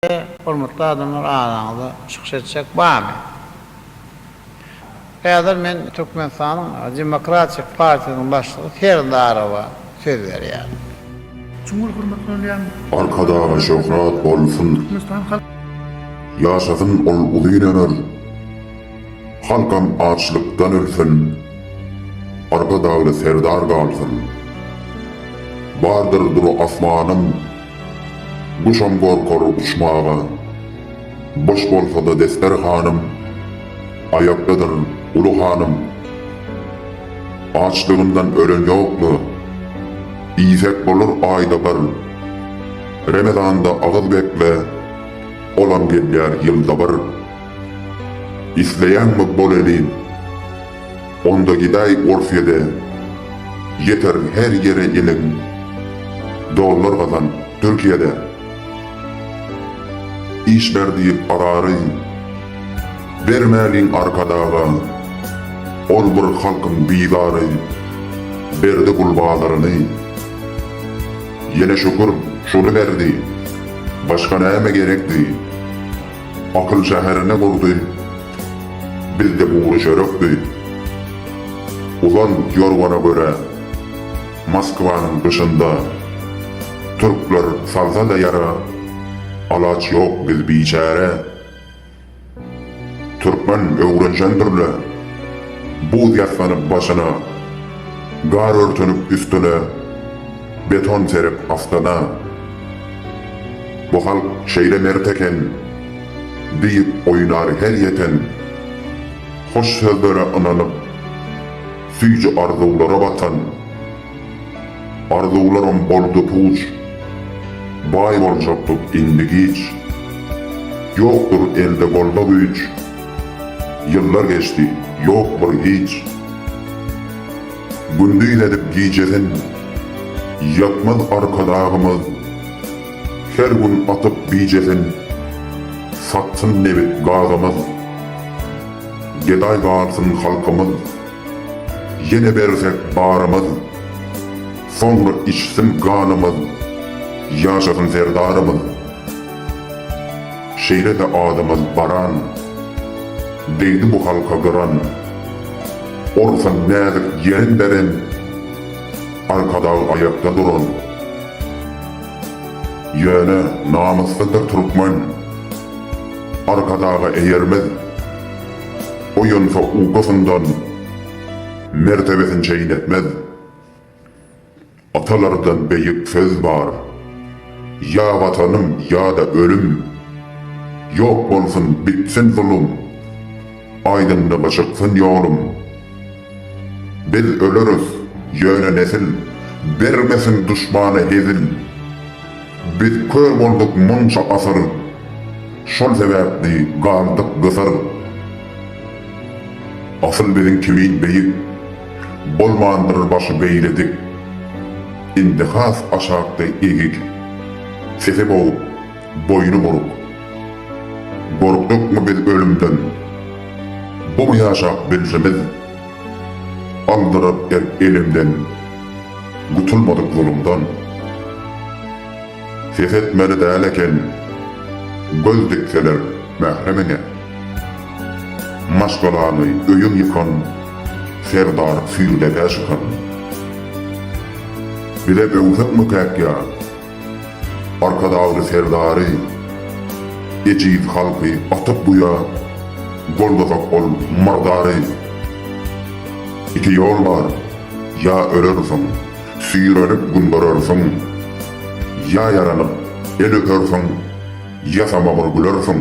Ine, hormatly adamlar, araňyzda çykyş etjek barmy? Häzir men Türkmenistanyň Demokratik partiýasynyň başlygy Serdarowa söz berýärin. Çuň ol hormatly bolýan. Arkadaga şöhrat bolsun. Türkmenistan halk. Ýaşasyn ol uzyn ömür. Halkam açlykdan ölsün. Arkadagly Serdar galsyn. Bardyr dur asmanym. Guşam gorkar uçmaga. Boş bolsa-da desterhanym, Aýakdadyr uly hanym. Açlygyndan ölen ýok-la, Iýsek bolar aýda bir. Remezanda agyz bekle, Olam gelýär ýylda bir. Isleýäňmi bol elin? Onda gidaý Orsýede ýeterin her ýere iliň dollar gazan Türkiýede iş ber diýip arary bermäliň arkadaga ol bir halkyň bizary berdi gul bazaryny ýene şükür şuny berdi başga näme gerekdi akyl şäherini gurdy Bizde bugury çörek diýip, uzan ýorgana görä, Moskwanyň gyşynda türkler salsa-da ýara, alaç ýok biz biçäre. Türkmen öwrenşendir-le, buz ýassanyp başyna, gar örtenip üstüne, beton serip astana. Bu halk şeýle mert eken. Diýip goýnar her ýeten Hoş sözlere ynanyp Süýji arzuwlara batan Arzuwlarym boldy puç Baý boljakdyk indi giç Ýokdur elde golda güýç Ýyllar geçdi ýok bir hiç Gündiz edip gijesyn Ýatmaz Arkadagymyz Her gün atyp bijesin, satsyn nebit-gazymyz. Gedaý galsyn halkymyz, ýene bersek barymyz. Soňra içsin ganymyz, ýaşasyn Serdarymyz. Şeýle-de adymyz baran, degdi bu halka gyran. Orsan näzik ýerin beren, Arkadag aýakda duran. Ýöne namyslydyr türkmen, Arkadaga eýermez. Oýansa ukusyndan, Mertebesin çeýnetmez. Atalardan beýik söz bar, Ýa Watanym, ýa-da ölüm! Ýok bolsun, bitsin zulum! Aýdymda gyşytsyn ýolum. Biz öleris, ýöne nesil, Bermesin duşmana hezil. Biz kör bolduk munça asyr, Şol sebäpli galdyk gysyr. Asyl biziň kimin beýik, Bolmandyr başy beýle dik. Indi has aşakda egik, Sese boguk, Boýny buruk. Gorkdukmy biz ölümden? Bu mu ýaşap bilşimiz? Aldyryp erk elimden. Gutulmadyk zulumdan. Ses etmeli däl eken. Göz dikseler mähremiňe. Maşgalaňy, öýüň ýykan. Serdar süýrüdege şykan. Bize öwsek mükäk ýa? Arkadagly Serdary, ejiz halky atyp guýa goldasak ol murdary. Iki ýol bar, ýa ölersiň, süýrenip gün görersiň, ýa ýaranyp el öpersiň, ýasama bir gülersiň.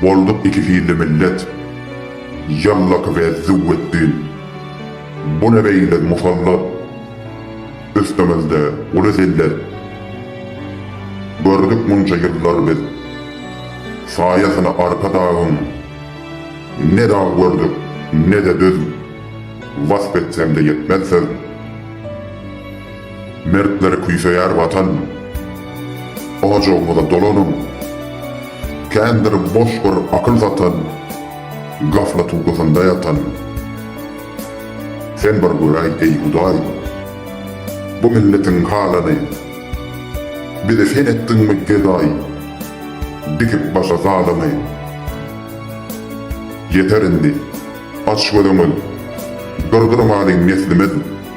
Bolduk iki hilli millet, Ýallaky we Züwwetdi. Bu ne beýle musallat, Üstümizde uly zillet. Gördük munça ýyllar biz, Saýasyny Arkadagyň. Ne dag gördük, ne-de düz, Wasp etsem-de ýetmez söz. Mertler küýseýär Watan! Ojagymyza dolanyň! Kändir boş bir akyl satan, Gaflat ukusynda ýatan. Sen bir göräý, eý Hudaý, Bu milletiň halyny, Bizi sen etdiňmi gedaý, Dikip başa zalymy? Ýeter indi, aç gözüňiz, Durdurmalyň neslimiz!